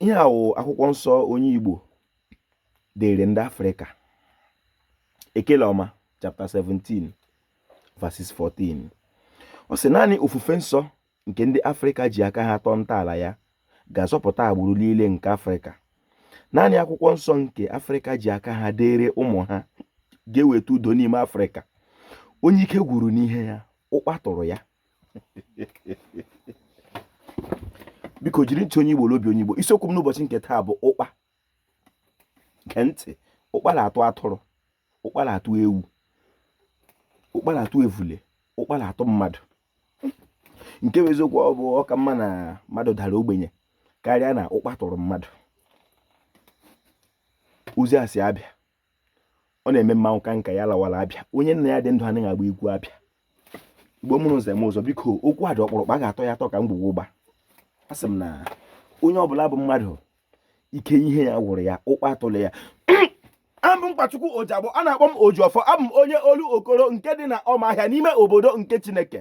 ihe a wụ akwụkwọ nsọ onye Igbo deere ndị Afrịka ekele ọma chapter 17 verses 14 ọ sị naanị ofufe nsọ nke ndị Afrịka ji aka ha tọọ ntọala ya ga-azọpụta agbụrụ niile nke Afrịka naanị akwụkwọ nsọ nke Afrịka ji aka ha deere ụmụ ha ga-eweta udo n'ime Afrịka onye ike gwuru n'ihe ya ụkpa tụrụ ya biko jiri ntị onye Igbo na obi onye Igbo isiokwu m n'ụbọchị nke taa bụ ụkpa gee ntị ụkpa na-atụ atụrụ ụkpa na-atụ ewu ụkpa na-atụ evule ụkpa na-atụ mmadụ nke bụ eziokwu ọ bụ ọ ka mma na mmadụ dara ogbenye karịa na ụkpa tụrụ mmadụ ozi a si abịa ọ na-eme mmanwụ ka nka ya lawara abịa onye nna ya dị ndụ anaghị agba egwu abịa igbo mụrụ nze mụọ ọzọ biko okwu a dị ọkpụrụkpụ a ga-atọ ya atọ ka ngwugwu ụgba a sị m na onye ọbụla bụ mmadụ ike ihe ya gwụrụ ya ụkpa atụla ya abụ m Nkwachukwu Ojiagbọ a na-akpọ m Ojiọfọ abụ m onye Olokoro nke dị na Ọmahịa n'ime obodo nke Chineke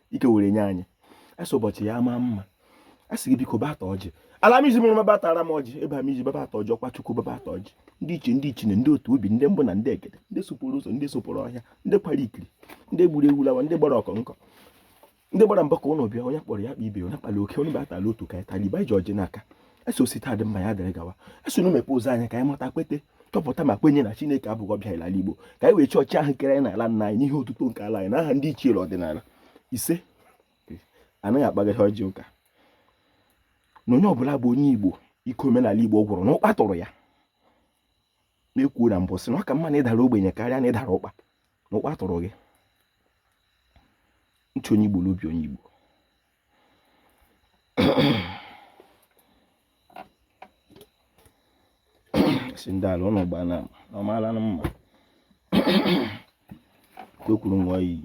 ike were nye anyị a sị ụbọchị ya maa mma a sị gị biko bịa taa ọjị ala m iji mụrụ m bịa taara m ọjị ebe a m iji babata ọjị ọkwa chukwu babata ọjị ndị ichie ndị ichine ndị otu ubi ndị mbụ na ndị egede ndị sopụrụ ụzọ ndị sopụrụ ọhịa ndị kwara ikiri ndị gburu ewu lawa ndị gbara ọkọnkọ ndị gbara mbọ ka ụlọ bịa onye kpọrọ ya kpọọ ibe onye kpara oke onye batara otu ka ya taliba e ji ọjị n'aka asị osita dị mma ya dịrị gawa eso na mepe ụzọ anya ka anyị mata kwete chọpụta ma kwenye na chineke abụghị ọbịa ala igbo ka anyị wee chọọ chi ahụ kere anyị n'ala nna anyị n'ihi otuto nke ala anyị na aha ndị ichie ọdịnala isee anaghị akpagharị ọjị ụka na onye ọbụla bụ onye igbo ike omenala igbo gwụrụ na ụkpa tụrụ ya m kwuo na mbụ sị na ọ ka mma na ị dara ogbenye karịa na ị dara ụkpa na ụkpa tụrụ gị ntị onye igbo n'obi onye igbo si ndị ala ụnụ gbaa na ọmaala na mma kwekwuru nwa iyi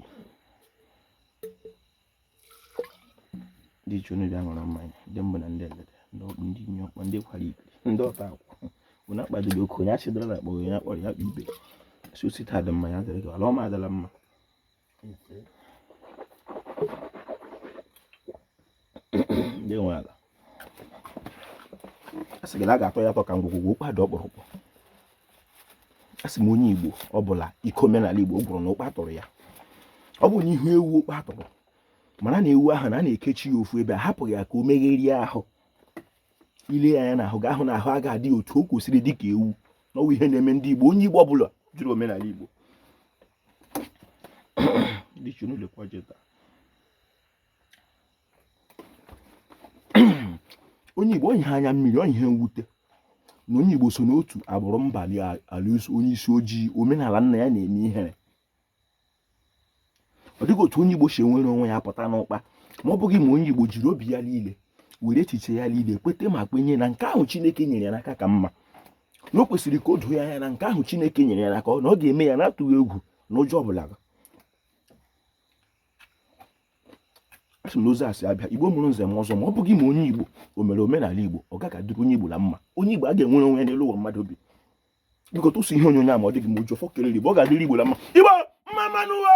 ndị ichie unu bịa ṅụrụ mmanya ndị mbụ na ndị egede ndị ọkpụ ndị inye ọkpọ ndị kwara ibe ndị ọta akwụ unu akpadịrị oke onye achịdara na akpọ onye a kpọrọ ya kpọọ ibe sị osita dị mma ya dịrị gị ala ọma adịla mma nwe ala asị gị na a ga-atọ ya atọ ka ngwugwu ụkpa dị ọkpụrụkpụ asị m onye igbo ọ bụla ike omenala igbo gwụrụ na ụkpa tụrụ ya ọ bụ na ị hụ ewu ụkpa tụrụ mara na ewu ahụ na a na-ekechi ya ofu ebe a hapụghị ya ka o megherie ahụ i lee ya anya n'ahụ ga-ahụ na ahụ agaghị adị otu o kwesịrị dị ka ewu na ọ wụ ihe na-eme ndị igbo onye igbo ọ bụla jụrụ omenala igbo Ndị ichie unu lekwa ọjị taa. onye Igbo ọ bụ ihe anya mmiri ọ bụ ihe mwute na onye Igbo so n'otu agbụrụ mba ala onye isi ojii omenala nna ya na-eme ihere ọ dịghị otu onye Igbo si enwere onwe ya pụta n'ụkpa ma ọ bụghị ma onye Igbo jiri obi ya niile were echiche ya niile kwete ma kwenye na nke ahụ Chineke nyere ya n'aka ka mma na o kwesịrị ka o doo ya anya na nke ahụ Chineke nyere ya n'aka na ọ ga-eme ya na-atụghị egwu na ụjọ ọbụla asị m na ozi a si abịa igbo mụrụ nze mụọ ọzọ ma ọ bụghị ma onye igbo o mere omenala igbo ọ gaghị adịrị onye igbo na mma onye igbo agaghị enwere onwe ya n'elu ụwa mmadụ bi biko tụsa ihe onyonyo a ma ọ dị gị mma Ojiọfọ kelere igbo ọ ga-adịrị igbo na mma igbo mma mma nụ ụwa